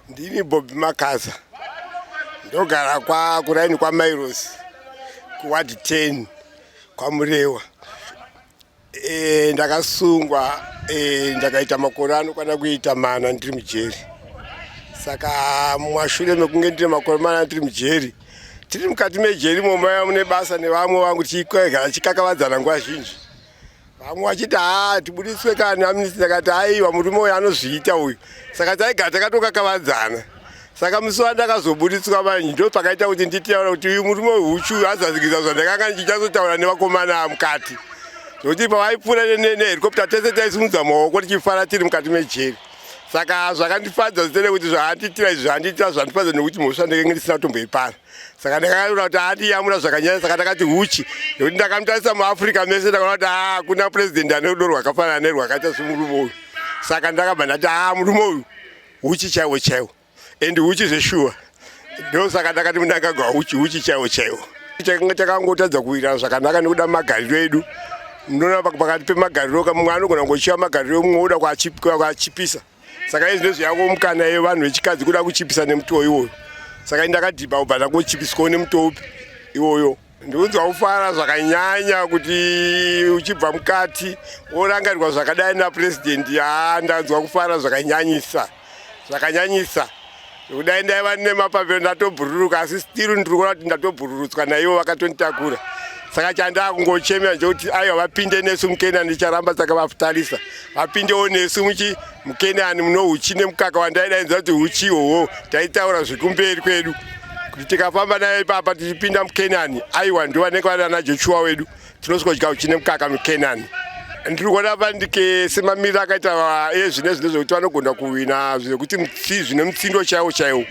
Ndini Bob Makaza ndogara kwa kuraini kwa Mairos kuward 10 kwa Murewa. E, ndakasungwa e, ndakaita makore anokwana kuita mana ndiri mujeri. Saka mumashure mekunge ndiri makore mana ndiri mujeri tiri mukati mejeri momaya mune basa nevamwe vangu tichigara chikakavadzana nguva zhinji vamwe vachiti haa tibudiswe kani amnesty takati aiwa murume uyu anozviita uyu saka taigara takatokakavadzana saka musi wandakazobudiswa manje ndo pakaita kuti nditaura kuti uyu murume weuchu azazikisa zvandakanga ndichichazotaura nevakomana mukati zvokuti pavaipfuura nehelicopta tese taisimudza maoko tichifara tiri mukati mejeri saka zvakandifadza zitene kuti zvaandiitira izvi zvaandiitira zvandifadza nekuti mhosva ndekenge ndisina kutomboipara saka ndakayamura kuti andiyamura zvakanyanya saka ndakati huchi nekuti ndakamutarisa muafrica mese ndakaona kuti hakuna president ane rudo rwakafanana nerwakaita semurume uyu saka ndakabva ndati a murume uyu huchi chaiwo chaiwo and huchi zveshuwa ndo saka ndakati mundangagwa huchi huchi chaiwo chaiwo chakanga chakangotadza kuwira zvakanaka nekuda magariro edu munoona pakati pemagariro kamwe anogona kungochiva magariro mumwe oda kwachipisa kwa saka izvi ndezvo yavo mukana yevanhu vechikadzi kuda kuchipisa nemutowo iwoyo saka ini ndakadhibha kubva ndakuchipiswawo nemutowo upi iwoyo ndikunzwa kufara zvakanyanya kuti uchibva mukati worangarirwa zvakadai napurezidendi haa ndanzwa kufara zvakanyanyisa zvakanyanyisa kudai ndaiva nemapavhero ndatobhururuka asi stiru ndiri kuona kuti ndatobhururutswa naivo vakatonditakura saka chandaa kungochemera njokuti aiwa vapinde nesu mukenani ndicharamba saka vafutarisa vapindewo nesu muchi mukenani muno uchi nemukaka wandaidainza kuti uchi ihoho taitaura zvekumberi kwedu kuti tikafamba nayo ipapa tichipinda mukenani aiwa ndivanenge vari ana joshua wedu Tinosodya uchi nemukaka muKenani. Ndiri kuona Vandike semamiriro akaita ezvine eh, zvine zvekuti vanogona kuwina zvekuti zvine mutsindo chaiwo chaiwo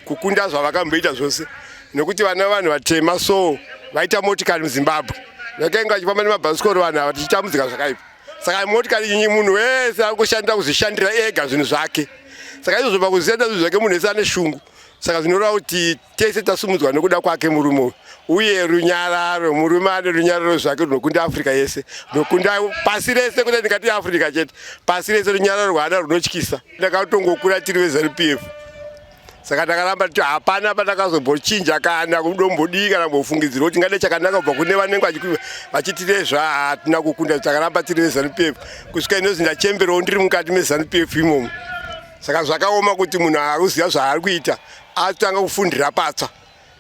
kukunda zvavakamboita zvose nekuti vana vanhu vatema so vaita motikari muzimbabwe vakainge vachifamba nemabhasikoro vanhu ava tichitambudzika zvakaipa saka motikari inyi munhu wese ari kushandira kuzvishandira ega zvinhu zvake saka izvozvo pakuziya zvinhu zvake munhu wese ane shungu saka zvinoreva kuti tese tasumudzwa nokuda kwake murume uyu uye runyararo murume ane runyararo zvake runokunda africa yese nokunda pasi rese kuda ndikati yeafrica chete pasi rese runyararo rwaana runotyisa ndakatongokura tiri vezanup f saka takaramba titi hapana patakazombochinja kana kudombodii kana kumbofungidzira kuti ngade chakanaka kubva kune vanenge vachitirezva hatina kukunda takaramba tiri vezanup f kusvika inozi ndachemberawo ndiri mukati mezanup f imomo saka zvakaoma kuti munhu aruziva zvaari kuita atanga kufundira patsva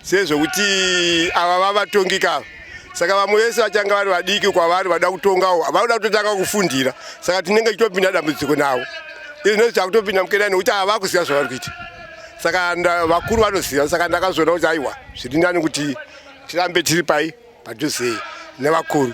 sezvekuti ava vavatongika ava saka vamwe vese vachanga vari vadiki kwavari vada kutongawo vanoda kutotanga kufundira saka tinenge tichitopinda dambudziko navo izvinozi chakutopinda mukedani nekuti ava vakuziva zvavari kuita saka vakuru vanoziva saka ndakazoona kuti aiwa zviri ndani kuti tirambe tiri pai padhuze nevakuru